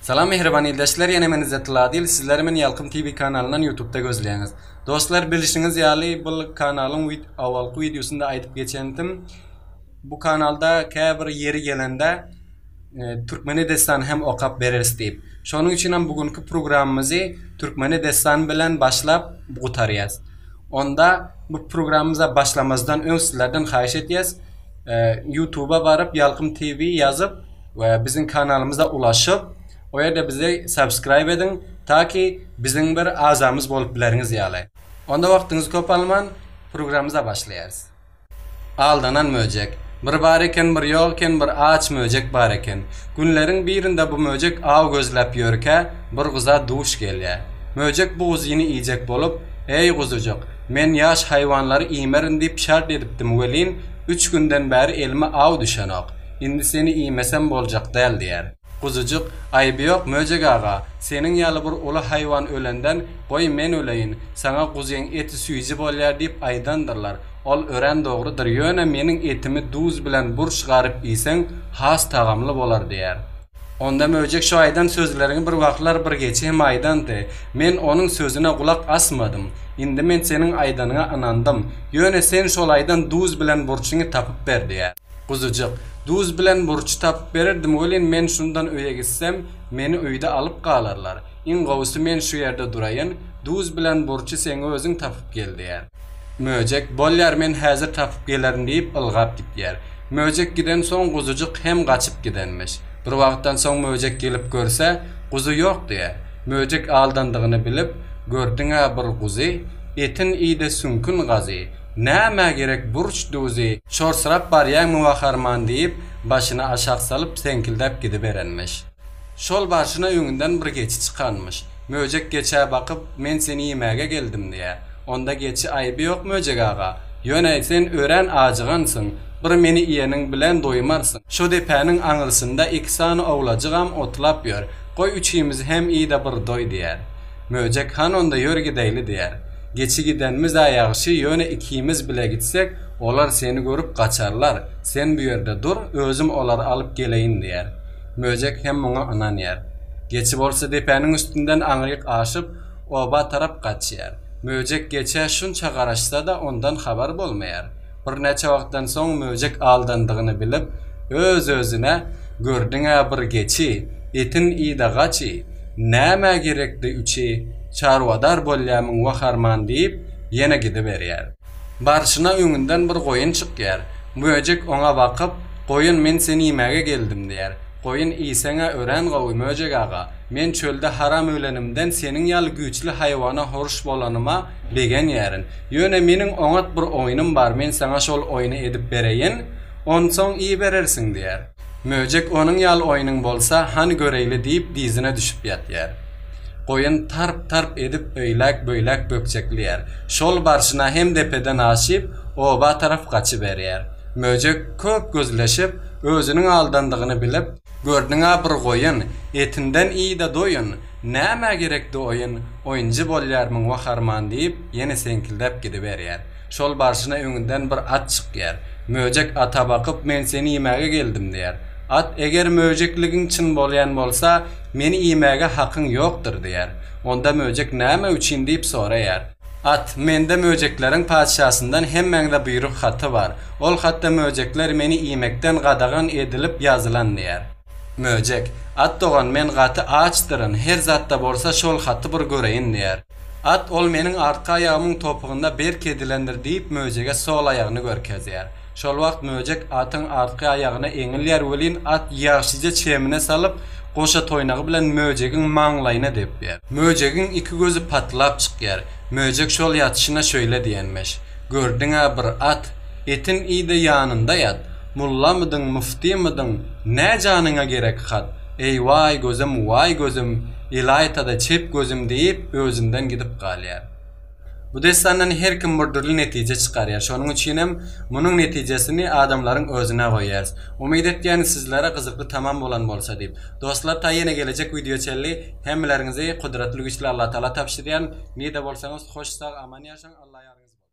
Salam mähriban ildeşler ýene men Izzatylladil sizleri men Ýalkym TV kanalyndan ýutubda gözleýäňiz. Dostlar bilişiňiz ýaly bul kanalyň owalky wideosynda aýdyp geçendim bu kanalda käbir ýeri gelende Türkmene dessan hem okap bereris diýip. Şonuň üçinem bu günki programmyzy Türkmene dessan bilen başlap gutarýas. Onda bu programmyza başlamazdan öň sizlerden haýyş etýäs ýutuba baryp Ýalkym TV ýazyp we biziň kanalymyza ulaşyp o ýerde bizi subscribe ediň taky biziň bir azamyz bolup bileriňiz ýaly onda wagtyňyzy köp alman programymyza başlaýarys. Aldanan möjek. Bir bar eken bir ýok eken bir aç möjek bar eken. Günleriň birinde bu möjek aw gözläp ýörkä bir guza duş gelýä. Möjek bu guzyny iýjek bolup Eý guzujyk men ýaş haýwanlary iýmerin diýip şert edipdim welin üç günden bäri elime aw düşenok. Indi seni iýmesem boljak däl, diýer. Guzujyk, Aýby ýok, Möjek aga, seniň ýaly bir uly haýwan ölenden, goý, men öleýin, saňa guzyň eti süýji bolýar diýip aýdandyrlar. Ol örän dogrudyr, ýöne meniň etimi duz bilen burç garyp iýseň, has tagamly bolar, diýer. Onda Möjek şu aýdan sözleriňi bir wagtlar bir geçi hem aýdandy. Men onuň sözüne gulak asmadym. Indi men seniň aýdanyňa ynandym. Ýöne sen şol aýdan duz bilen burçyňy tapyp ber, diýer. Guzujyk, duz bilen murç tapyp bererdim welin men şundan öýe gitsem, meni öýde alyp galarlar. Iň gowusy men şu ýerde duraýyn, duz bilen murçy seň özüň tapyp gel diýär. Möjek, Bolýar men häzir tapyp gelerin diýip ylgap gidýär. Möjek gidensoň guzujyk hem gaçyp gidenmiş. Bir wagtdan soň möjek gelip görse, guzy ýok diýär. Möjek aldandygyny bilip, Gördüň-ä bir guzy, etin iýdi süňkün gazy. Nämä gerek burç duzy, çorsyrap barýaňmy waharman diýip, başyny aşak salyp, seňkildäp gidiberenmiş. Şol barşyna öňünden bir geçi çykanmyş. Möjek geçä bakyp, Men seni iýmäge geldim diýýär. Onda geçi, Aýby ýok Möjek aga, ýöne sen örän ajygansyň, bir meni iýeniň bilen doýmarsyň. Şo depäniň aňyrsynda iki sany owlajygam otlap ýör, goý üçimizi hem iý-de bir doý diýýär. Möjek Han onda ýör gideýli diýer. Geçi gidenimiz-ä ýagşy, ýöne ikimiz bile gitsek, olar seni görüp gaçarlar, sen bu ýerde dur, özüm olary alyp geleýin diýer. Möjek hem muňa ynanýar. Geçi bolsa depäniň üstünden aňryk aşyp, oba tarap gaçýar. Möjek geçä şunça garaşsa-da, ondan habar bolmaýar. Birnäçe wagtdan soň möjek aldandygyny bilip, öz-özüne, Gördüň-ä bir geçi, etin yda gaçy, nämä gerekdi üçi, çarwadar bolýamyň wah arman diýip, ýene gidiberýär. Barşyna öňünden bir goýun çykýar. Möjek oňa bakyp, Goýun, men seni iýmäge geldim diýär. Goýun, Iýseň-ä örän gowy, möjek aga. Men çölde haram ölenimden seniň ýaly güýçli haýwana horş bolanyma, Begenýärin. Ýöne meniň oňat bir oýnum bar, men saňa şol oýny edip bereýin, onsoň iýiberersiň, diýýär. Möjek onuň ýaly oýnuň bolsa, hany göreýli diýip dyzyna düşüp ýatýar. Goýun tarp-tarp edip öýläk-böýläk bökjeklýär. Şol barşyna hem depeden aşyp, oba tarap gaçyberýär. Möjek köp gözleşip, özüniň aldandygyny bilip. Gördüň-ä bir goýun, etinden iý-de doýun! Nämä gerekdi oýun, oýunjy bolýarmyň wah arman diýip, ýene seňkildäp gidiberýär. Şol barşyna öňünden bir at çykýar. Möjek ata bakyp, Men seni iýmäge geldim diýär. At, Eger möjekligiň çyn bolýan bolsa, meni iýmäge hakyň ýokdur diýär. Onda möjek näme üçin diýip soraýar. At, Mende möjekleriň patyşasyndan hemmäňze buýruk haty bar. Ol hatda möjekler meni iýmekden gadagan edilip ýazylan diýär. Möjek, At dogan men gaty açdyryn, her zatda bolsa şol haty bir göreýin diýýär. At ol meniň artky aýagymyň topugynda berk edilendir diýip möjege sol aýagyny görkezýär. Şol wagt möjek atyň artky aýagyna eňilýär welin at ýagşyja çemine salyp goşa toýnagy bilen möjegiň maňlaýyna depýär. Möjegiň iki gözi patlap çykýar. Möjek şol ýatyşyna şöýle diýenmiş, Gördüň-ä bir at, etin iý-de ýanynda ýat. Mollamydyň, muftymydyň, nä janyňa gerek hat? Eý-waý gözüm, waý gözüm, ilaýta-da çep gözüm diýip, özünden gidip galýar. Bu dessandan her kim bir dürli netije çykarýar. Şonuň üçinem munuň netijesini adamlaryň özüne goýýarys. Umyt etýärin sizlere gyzykly tamam bolan bolsa diýip. Dostlar taý ýene gelejek wideo çenli hemmeleriňizi Gudratly Güýçli Allatagala tabşyrýaryn. Nirde bolsaňyz hoş sag aman ýaşaň Alla ýaryňyz bolsun.